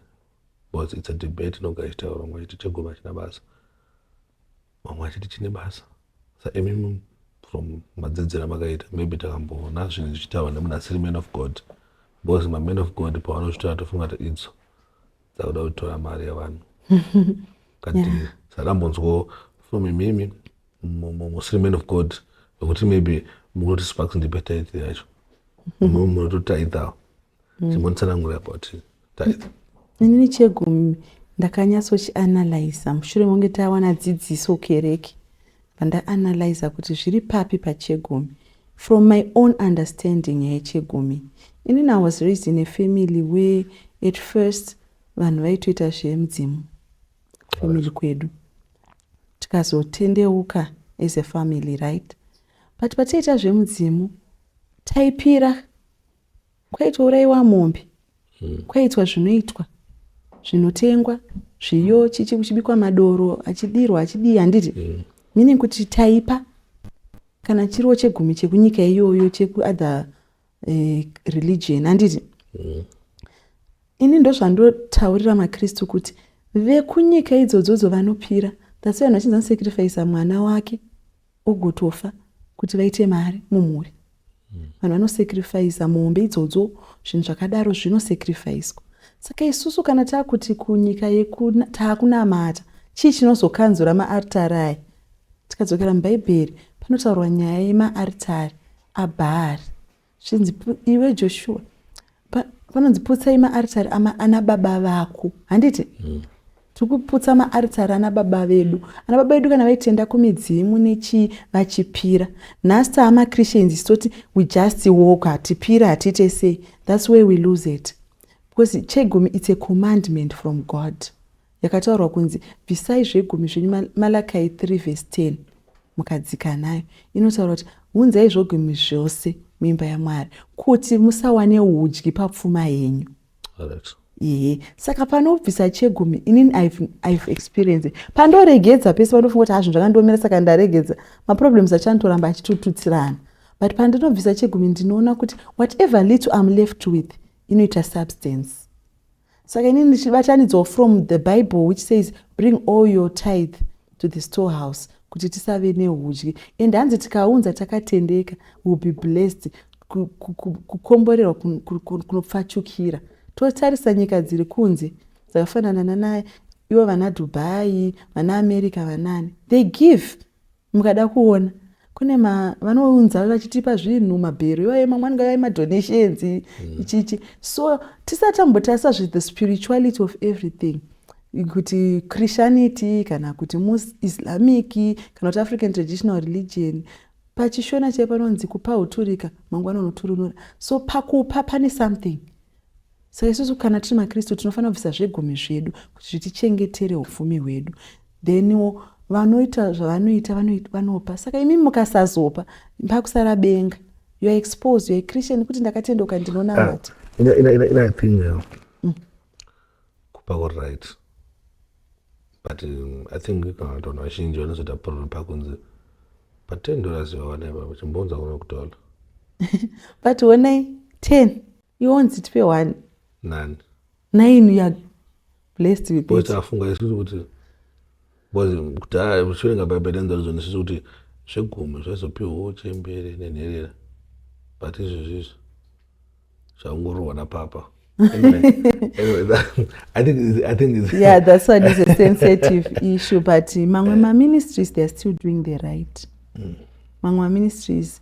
Because it's a debate inogara ichitaura vamwe vachiti chegumi hachina basa vamwe vachiti chine basa sa imi from madzidzira makaita maybe takamboona zvinhu zvichitaurwa nemunasiri man of god because maman of god pavanozvitora tofunga kuti idzo dzakuda kutora mari yevanhu kati yeah. sarambonzwo from imimi muslim man of god vekuti maybe munoti sparks ndipe tithe yacho mumwe munototithawo mm. chimonitsanangura about tithe inini chegumi ndakanyatsochianalyza mushure monge tawana dzidziso kereke pandaanalyza kuti zviri papi pachegumi from my own understanding yechegumi ini na was raised in a family where at first vanhu vaitoita zvemudzimu family kwedu tikazotendeuka as a family right but pataiita zvemudzimu taipira kwaitwa uraiwa mombe hmm. kwaitwa zvinoitwa zvinotengwa zviyo chichi kuchibikwa madoro achidirwa achidii handiti hmm. meaning kuti taipa kana chiriwo chegumi chekunyika iyoyo chekuother eh, religion handiti mm. ini ndozvandotaurira makristu kuti vekunyika idzodzodzo vanopira that's why vanhu vachinzi anosacrifisa mwana wake ogotofa kuti vaite mari mumhuri hmm. vanhu vanosacrifisa mombe idzodzo zvinhu zvakadaro zvinosacrifiswa saka isusu kana taakuti kunyika taakunamata chii chinozokanzura maartari aya tikadzokera mubhaibheri panotaurwa nyaya yemaaritari aBhaari. Zvinzi, Iwe Joshua, panonzi putsai maaritari ana baba vako handiti mm. tiri kuputsa maaritari ana baba vedu ana baba vedu kana vaitenda kumidzimu nechii vachipira nhasi taa machristans isu toti we just walk hatipira hatiite sei thats way we lose it because chegumi its a commandment from god Yakataurwa kunzi, Bvisai zvegumi zvenyu, Ma, Malakai 3 vhesi 10, mukadzika nayo. Inotaura kuti, Unzai zvogumi zvose muimba yaMwari, kuti musawane udyi papfuma yenyu. Right. Ehe, saka panobvisa chegumi, inini I've, I've experienced it. Pandoregedza pese panofunga kuti hazvinhu zvakandiomera saka ndaregedza, maproblems achanoramba achitututsirana. But pandinobvisa chegumi ndinoona kuti whatever little I'm left with inoita substance. saka ini ndichibatanidzawo from the bible which says bring all your tithe to the storehouse kuti tisave neudyi and hanzi tikaunza takatendeka will be blessed kukomborerwa kunopfachukira totarisa nyika dziri kunze dzakafanana nanaye ivo vana dubai vana america vanani they give Mukada kuona kune ma vanounza vachitipa zvinhu mabhero iwaye mamwe anenge aye madonations mm. ichichi so tisati tambotarisa zve the spirituality of everything kuti christianity kana kuti islamic kana kuti african traditional religion pachishona chaiye panonzi kupa uturika mangwana unoturunura so pakupa pane something Saka isusu kana tiri maKristu tinofanira kubvisa zvegumi zvedu kuti zvitichengetere upfumi hwedu. Then vanoita zvavanoita vanopa. Saka imi mukasazopa pakusara benga. You are exposed, you are a Christian kuti ndakatendoka ndinonamata. Uh, ah, in, in, in, in a thing uh, mm. kupa all right. But um, I think kana vanhu vazhinji vanozoita problem pakunzi pa 10 dollars vawana ipapo chimbounza kuno kutola. But honai 10 iwo nzitipe one nani nine you are blessed with it afunga isusu kuti because kudhaya muchiverenga bhaibheri enzarudzo nisusu kuti zvegumi zvaizopiwawo chembere nenherera but izvezvi izvi zvakungororwa napapa yeah that's one is a sensitive issue but mamwe maministries theyare still doing the right mm. mamwe maministries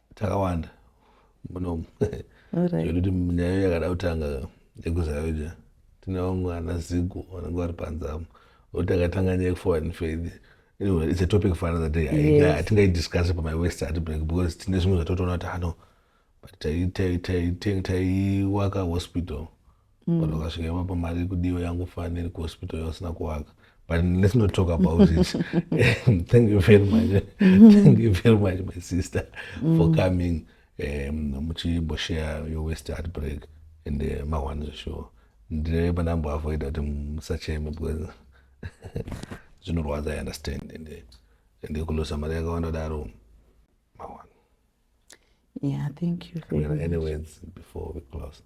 takawanda munomu zvekuti nyaya yakada kutanga yekuzarauja tine vamwe ana zigo vanenge vari panzamu oti akatanga nyaya yekuforeign faith anyway it's a topic for another day hatingaidiscusse pamai west ati break because tine zvimwe zvatotoona kuti hano but taiwaka hospital mm. but ukasvika ipapo mari iri kudiwa yangofaniri kuhospital yausina kuvaka but let's not talk about it thank you very much thank you very much my sister mm. for coming um, muchimboshare your west art break and uh, eh, mawani zveshuwa ndine pandamboavoida kuti musacheme because zvinorwadza i understand and eh, ndikulosa mari yakawanda daro mawani yeah thank you very much. any words before we close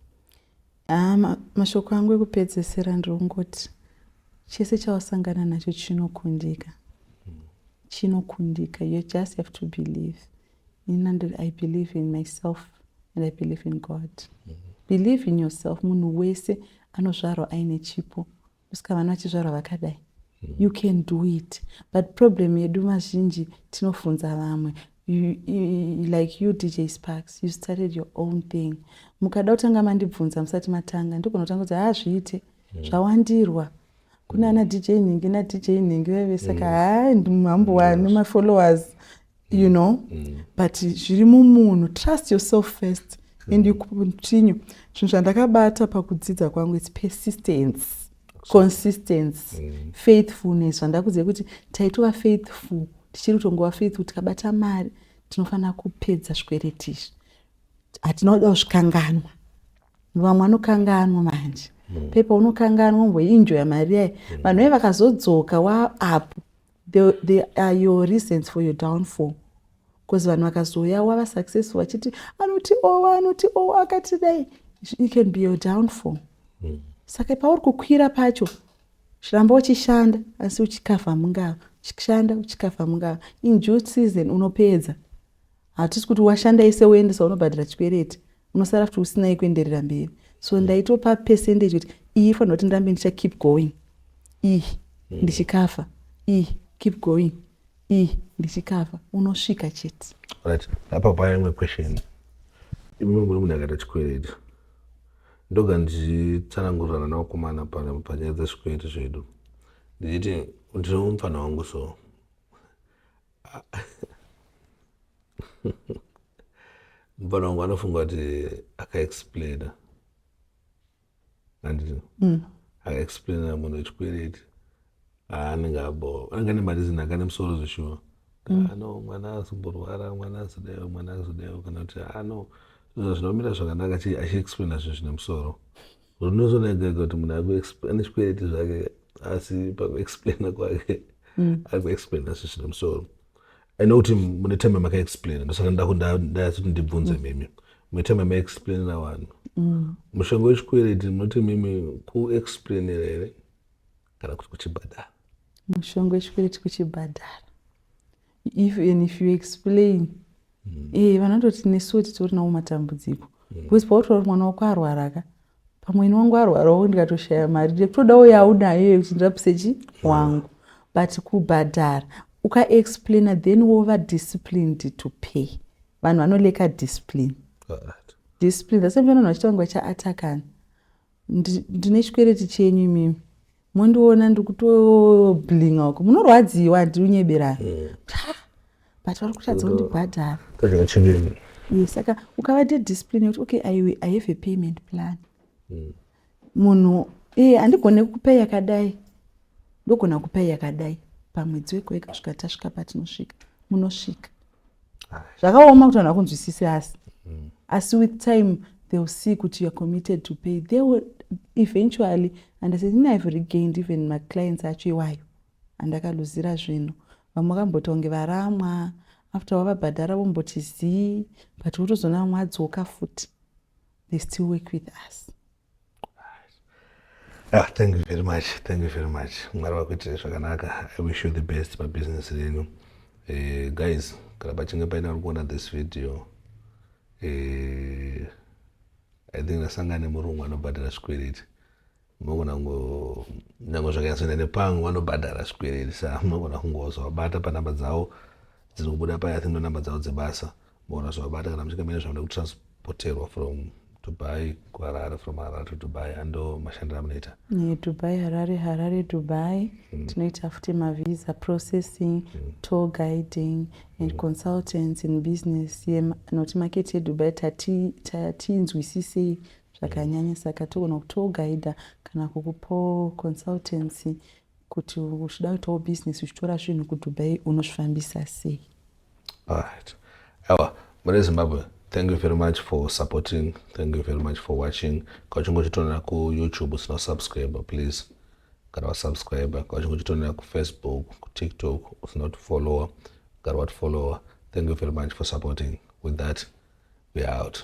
ah ma, mashoko angu ekupedzesera ndongoti chese chawasangana nacho chinokundika hmm. chinokundika you just have to believe in and i believe in myself and i believe in god mm -hmm. believe in yourself munhu wese anozvarwa aine chipo kusika vana vachizvarwa vakadai you can do it but problem yedu mazhinji tinofunza vamwe like you dj sparks you started your own thing mukada kutanga mandibvunza musati matanga ndigona kutanga kuti hazviite ah, mm. zvawandirwa kune ana dj nhingi nadj nhingi veve saka mm. haa hambo wani mafollowers you mm. know mm. but zviri mumunhu trust yourself first mm. and you continue zvinhu zvandakabata pakudzidza kwangu its persistence consistency mm. faithfulness zvandakuziva kuti taitova faithful tichiri kutongova faithful tikabata mari tinofanira kupedza zvikwereti izvi hatina kuda kuzvikanganwa vamwe anokanganwa manje mm. pepa unokanganwa umboinjoya mari yayi mm. vanhu vaye vakazodzoka waapo They, they are your reasons for your downfall because vanhu vakazouya wava successful vachiti anoti owa oh, anoti owa oh, akati dai it can be your downfall mm. saka pauri kukwira pacho ramba uchishanda asi uchikavha mungava uchishanda uchikavha mungava in due season unopedza hatisi kuti washanda ese woendesa unobhadhara chikwereti unosara futi usina yekuenderera mberi so ndaitopa percentage kuti iyi ifanira kuti ndirambe ndicha keep going iyi mm. ndichikafa iyi keep going iyi ndichikafa unosvika chete right apa paya imwe question imwe muri munhu akaita chikwereti ndoga ndichitsanangurirana naokumana panyaya dzezvikwereti zvedu ndichiti ndinomufanha wangu so mupana wangu anofunga kuti akaexplaina anditi mm. akaexplaina munhu wechikwereti aanenge abo anenge ane marizini anga ane musoro zveshuwa mm. ano mwana azimborwara mwana azideyo mwana azideyo kana kuti ano zvinomira zvakanaka achiexplaina zvinhu zvine musoro Zvinozooneka kuti munhu ane zvikwereti zvake asi pakuexplaina kwake mm. akuexplaina zvi zvine musoro i know kuti mune time makaexplaina ndosaka ndakundayasuti ndibvunze mm. mimi mune time maexplainira vanhu mm. mushonga wechikwereti munoti mimi kuexplainira here kana kuti kuchibhadhara mushonga wechikwereti kuchibhadhara if and if you explain mm. eh, vanototi nesuwo titori nawo matambudziko mm. because pautoa kuti mwana wako arwara ka pamwe ini wangu arwarawo ndikatoshaya mari ndekutodawo yaunayo iyoyo kuti ndirapise chi wangu but kubhadhara ukaexplaina then wova disciplined to pay vanhu vanoleka discipline discipline thasame vanhu vachita vangu vachiatakana Ndine chikwereti chenyu imimi mondiona ndikutoblinga uko munorwadziwa handiri unyeberayo mm. but vari kutadza kundibhadhara yes saka ukavaita discipline yekuti okay i, I have a payment plan mm. munhu ee handigone kupa yakadai ndogona kupa yakadai pamwedzi wekuweka svika tasvika patinosvika munosvika zvakaoma kuti vanhu vakunzwisise asi mm. asi with time they will see kuti youare committed to pay they will eventually and said ini ive regained even maclients acho iwayo andakaluzira zvinhu vamwe vakamboti vange varamwa after wavabhadhara vomboti zii but wotozoona vamwe adzoka futi they still work with us Ah, thank you very much thank you very much mwari vakuitirei zvakanaka i wish you the best pabusiness renyu uh, guys kana pachinge paina uri kuona this video uh, i think ndasangana nemurungu anobhadhara zvikwereti munogona kunyange zvakanyasoenda nepangu vanobhadhara zvikwereti sa munogona kungozovabata panamba dzavo dziri kubuda paya think ndonamba dzavo dzebasa Bona zvabata kana muchinge mene zvamda kutransporterwa from Dubai kuHarare from Harare to Dubai ando mashandira munoita yeah, Dubai Harare Harare Dubai mm. tinoita futi mavisa processing mm. tour guiding and mm. consultants in business ye noti market yeDubai tatiinzwisisei zvakanyanya saka togona kutour guida kana kukupo consultancy Kuti uchida kuitawo business uchitora zvinhu kuDubai unozvifambisa sei? Alright. Awa, mune Zimbabwe, thank you very much for supporting. Thank you very much for watching. Kana uchinge uchitonera kuYouTube usina kusubscribe, please gara wasubscribe. Kana uchinge uchitonera kuFacebook, kuTikTok usina kutifollower, gara watifollower. Thank you very much for supporting. With that, we are out.